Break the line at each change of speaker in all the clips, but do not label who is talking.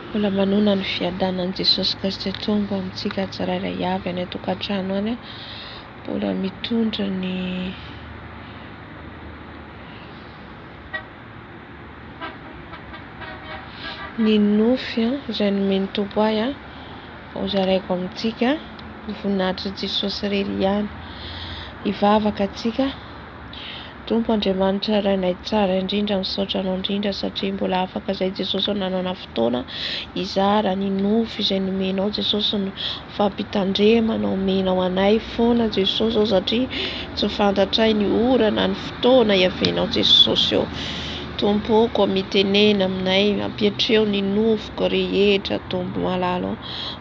Mbola manohana ny fiadanan'i Jesosy Kristy Tompo amintsika tsirairay avy any an-tokantrano any. Mbola mitondra ny ny nofy izay nomen'ny Tompo ahy ho zaraiko amintsika. Ny voninahitr'i Jesosy irery ihany. Hivavaka antsika. Tompo Andriamanitra Rainay tsara indrindra misaotra anao indrindra satria mbola afaka zay Jesosy ô nanana fotoana hizara ny nofy izay nomenao Jesosy ny fampitandremana omenao anay foana Jesosy ô satria tsy fantatray ny ora na ny fotoana iavianao Jesosy ô Tompo ô koa mitenena aminay ampiatreo ny nofiko rehetra Tompo malala ô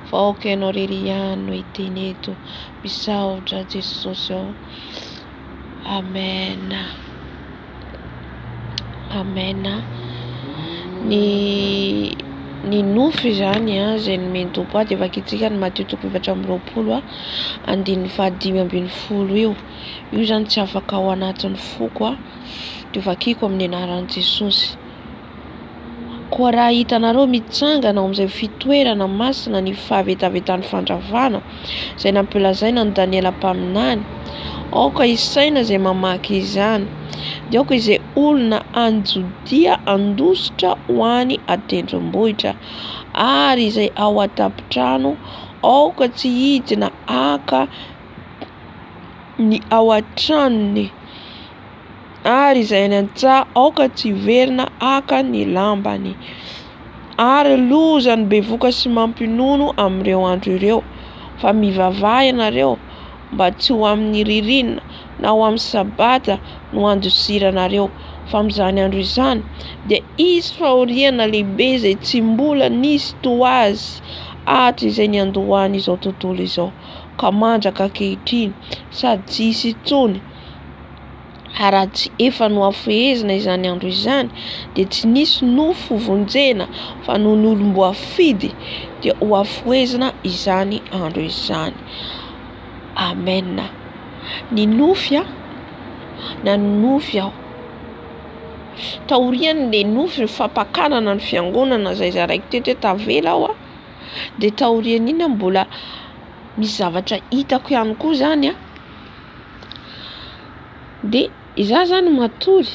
fa aoka ianao rery ihany no hiteny eto misaotra Jesosy ô Amen Amen ny ny nofo izany a izay nomen'i Tompo ahy dia vakitsika ny Matio toko efatra amby roapolo a andininy faha dimy ambin'ny folo io io izany tsy afaka ao anatin'ny foko a dia vakiko amin'ny anaran'i Jesosy. Koa raha hitanareo mitsangana ao amin'izay fitoerana masina ny fahavetavetan'ny fandravana, izay nampilazaina an'i Daniela mpaminany, aoka hisaina izay mamaky izany, dia aoka izay olona any Jodia handositra ho any an-tendrombohitra, ary izay ao an-tampon-trano, aoka tsy hidina haka ny ao an-tranony. Ary izay any an-tsaha aoka tsy hiverina haka ny lambany. Ary loza ny bevoka sy mampinono amin'ireo andro ireo. Fa mivavaha ianareo, mba tsy ho amin'ny ririnina na ho amin'ny sabata no handosiranareo, fa amin'izany andro izany dia hisy fahoriana lehibe izay tsy mbola nisy toa azy hatrizay niandohan'izao tontolo izao, ka mandraka ankehitriny, sady tsy hisy intsony. ary raha tsy efa nohafehezina izany andro izany dia tsy nisy nofy hovonjena fa noho ny olom-boafidy dia hohafohezina izany andro izany amena ny nofy a na ny nofy aho taorian' le nofy ny fampakarana ny fiangonana zay zaraiko teto hoe tavela aho a dia taorian'ina mbola misy zavatra hitako ihany koa zany a Dia izaho izany matory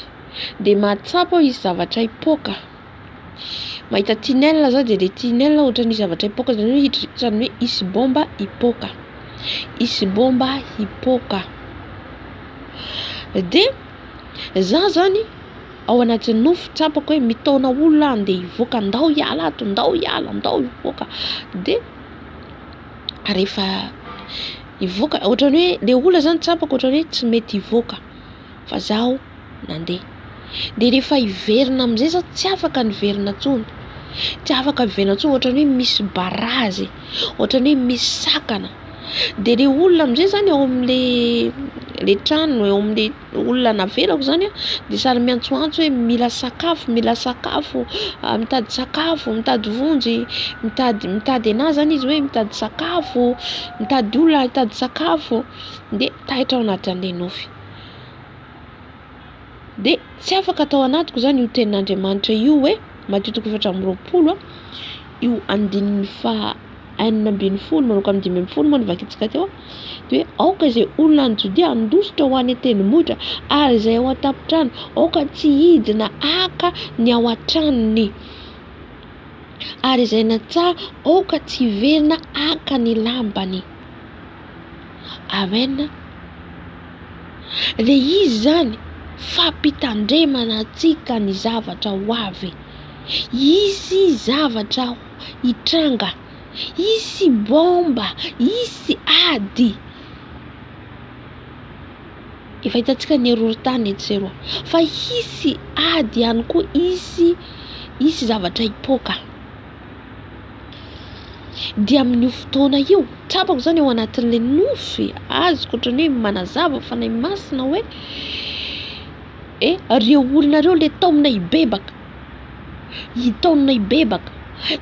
dia mahatsapa hoe hisy zavatra hipoaka. Mahita tunnel aho dia ilay tunnel ohatran'ny misy zavatra hipoaka izany hoe hidri- ohatran'ny hoe hisy baomba hipoaka, hisy baomba hipoaka. Dia izaho izany ao anaty nofy tsapako hoe mitaona olona aho andeha hivoaka, ndao hiala ato, ndao hiala, ndao hivoaka. Dia rehefa hivoaka ohatrany hoe le olona zany tsapako ohatrany hoe tsy mety hivoaka fa zaho nandeha de rehefa hiverina amizay za tsy afaka niverina tsony tsy afaka niverina tsony ohatrany hoe misy barazy ohatrany hoe misy sakana de le olona amizay zany ao amle le trano eo amle olona navelako izany dia sary miantsoantso hoe mila sakafo, mila sakafo, mitady sakafo, mitady vonjy, mitady mitady anà izany izy hoe mitady sakafo, mitady olona hitady sakafo dia taitra ao anaty an'ilay nofy. Dia tsy afaka tao anatiko izany io tenin'Andriamanitra io hoe Matio toko efatra amby roapolo a, io andininy faha enina ambin'ny folo manomboka amin'ny dimy ambin'ny folo moa no vakintsika teo. dia hoe aoka izay olona any Jodia handositra ho any an-tendrombohitra ary izay ao an-tampon-trano aoka tsy hidina haka ny ao an-tranony ary izay natsaha aoka tsy hiverina haka ny lambany. Amen. Dia izy izany fampitandremana antsika ny zavatra ho avy. Hisy zavatra hitranga. Hisy baomba, hisy ady. Efa hitantsika ny horohorontany etsy sy eroa. Fa hisy ady ihany koa, hisy hisy zavatra hipoaka. Dia amin'io fotoana io, tsapako izany ao anatin'ilay nofy azoko ohatran'ny hoe manazava fanahy masina hoe eh, ireo olona ireo ilay taomina hibebaka. Hitaonana hibebaka,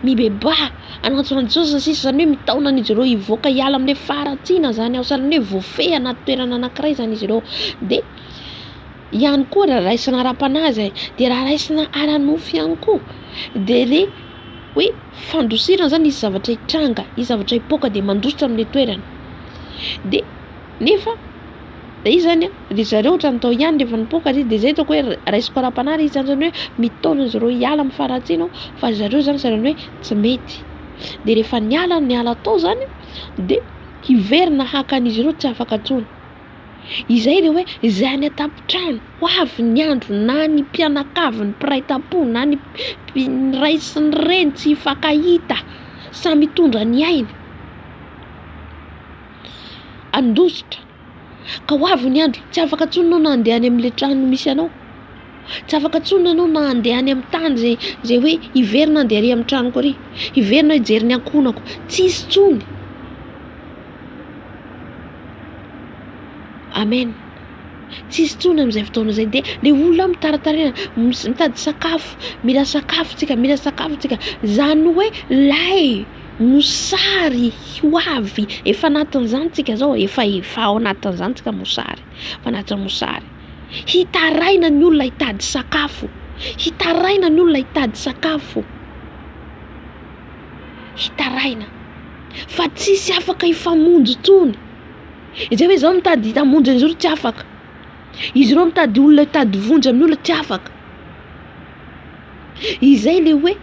mibebaha, hanantsona an'i Jesosy ny sisa, izany hoe mitaona an'izy ireo hivoaka hiala amin'ny hoe faharatsiana izany aho, sahalan'ny hoe voafehy anaty toerana anankiray izany izy ireo, dia ihany koa raha raisina ara-panahy izay, dia raha raisina ara-nofo ihany koa, dia ilay hoe fandosirana izany hisy zavatra hitranga, hisy zavatra hipoaka dia mandositra amin'ilay toerana dia. Nefa dia izy izany ry zareo ohatran'ny tao ihany rehefa nipoaka ry izy dia izay hitako hoe raisiko ara-panahy ry izy izany izany hoe mitaona an'izy ireo hiala amin'ny faharatsiana aho fa ry zareo izany sahalan'ny hoe tsy mety. Dia rehefa niala niala tao izany dia hiverina haka an'izy ireo tsy afaka intsony. Izay ilay hoe izay any an-tampon-trano ho avy ny andro na ny mpianakavy ny mpiray tampo na ny ny ray sy ny reny tsy hifankahita samy hitondra ny ainy. handositra ka ho avy ny andro tsy afaka intsony enao na handeha any amin'ilay trano misy anao, tsy afaka intsony enao na handeha any amin'ny tany izay izay hoe hiverina handeha ary amin'ny tranoko ary, hiverina hijery ny ankohonako, tsisy intsony. Amen, tsisy intsony amin'izay fotoana izay dia le olona mitaratarena mitady sakafo, mila sakafo tsika, mila sakafo tsika, izany hoe lay. Mosary ho avy efa anatin'izany tsika zao efa efa ao anatin'izany tsika mosary efa anatin'ny mosary hitaraina ny olona hitady sakafo hitaraina ny olona hitady sakafo hitaraina fa tsisy afaka hifamonjy tony izay hoe zao mitady hitamonjy an'izao tsy afaka izy ireo mitady olona hitady vonjy amin'ny olona tsy afaka izay le hoe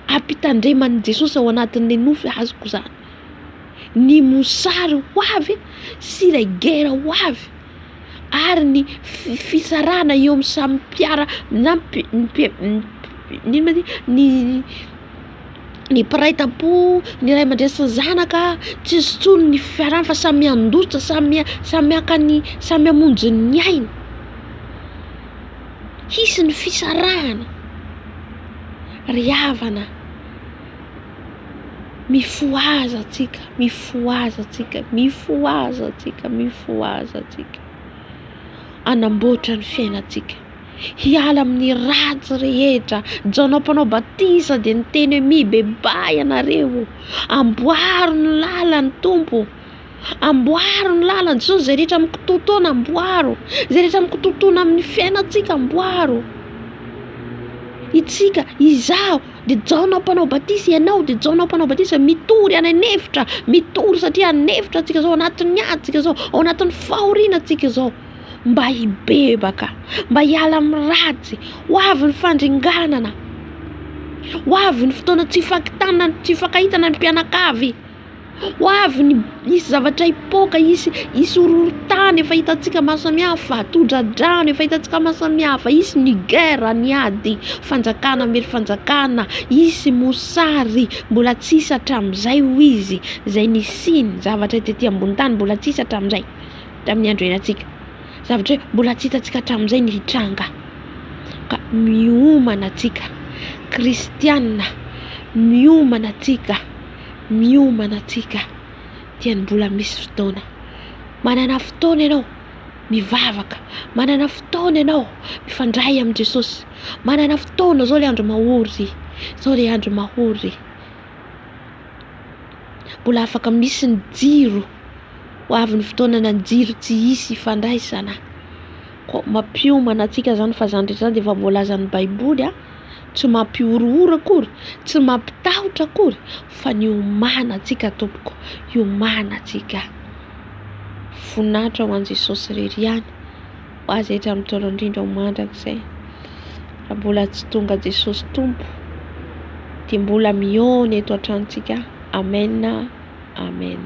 Ampitandreman'i Jesosy ao anatin'ilay nofy azoko izany ny mosary ho avy sy ilay gera ho avy ary ny fisarahana eo amin'ny samy mpiara na mpi- inona ma ty ny ny mpiray tampo ny ray aman-dreny sy ny zanaka tsisy intsony ny fiarahana fa samy handoja samy samy haka ny samy hamonjy ny ainy hisy ny fisarahana. Ry havana, mifohaza antsika, mifohaza antsika, mifohaza antsika, mifohaza antsika, hanamboatra ny fiainantsika, hiala amin'ny ratsy rehetra, Jaona Mpanao Batisa dia niteny hoe mibebaha ianareo, amboaro ny lalan'ny Tompo. Amboaro ny lalany sy ny izay rehetra mikitotoana amboaro, izay rehetra mikitotoana amin'ny fiainantsika amboaro, itsika, izaho de Jaona mpanao batisa, ianao de Jaona mpanao batisa mitory any an'efitra, mitory satria any an'efitra tsika zao anatin'ny ady tsika zao, ao anatin'ny fahoriana tsika zao, mba hibebaka, mba hiala amin'ny ratsy, ho avy ny fandringanana, ho avy ny fotoana tsy hifankitana, tsy hifankahitana ny mpianakavy. Ho avy ny, hisy zavatra hipoaka, hisy hisy horohorontany efa hitantsika maso samihafa, tondra-drano efa hitantsika maso samihafa, hisy ny guerre, ny ady fanjakana miely fanjakana, hisy mosary mbola tsy hisy hatramin'izay hoy izy, izay nisiany, zavatra tety ambonin'ny tany mbola tsy hisy hatramin'izay, tamin'ny andro iainantsika. Zavatra hoe mbola tsy hitantsika hatramin'izay ny hitranga. Ka miomana antsika kristiana, miomana antsika. miomana antsika dia ny mbola misy fotoana. Manana fotoana ianao mivavaka, manana fotoana ianao mifandray amin'i Jesosy, manana fotoana, izao ilay andro mahory, izao ilay andro mahory. Mbola afaka misy ny jiro, ho avy ny fotoanana ny jiro tsy hisy hifandraisana. koa mampiomana antsika izany fa izany rehetra izany dia efa voalazan'ny baiboly a, tsy mampihorohoro akory, tsy mampitahotra akory fa ny hiomana antsika tompoko, hiomana antsika. Voninahitra ho an'i Jesosy irery ihany ho azy hatramin'ny taona indrindra ho mandrakizay. Raha mbola tsy tonga Jesosy Tompo dia mbola mihaona eto an-tranontsika. Amen, amen.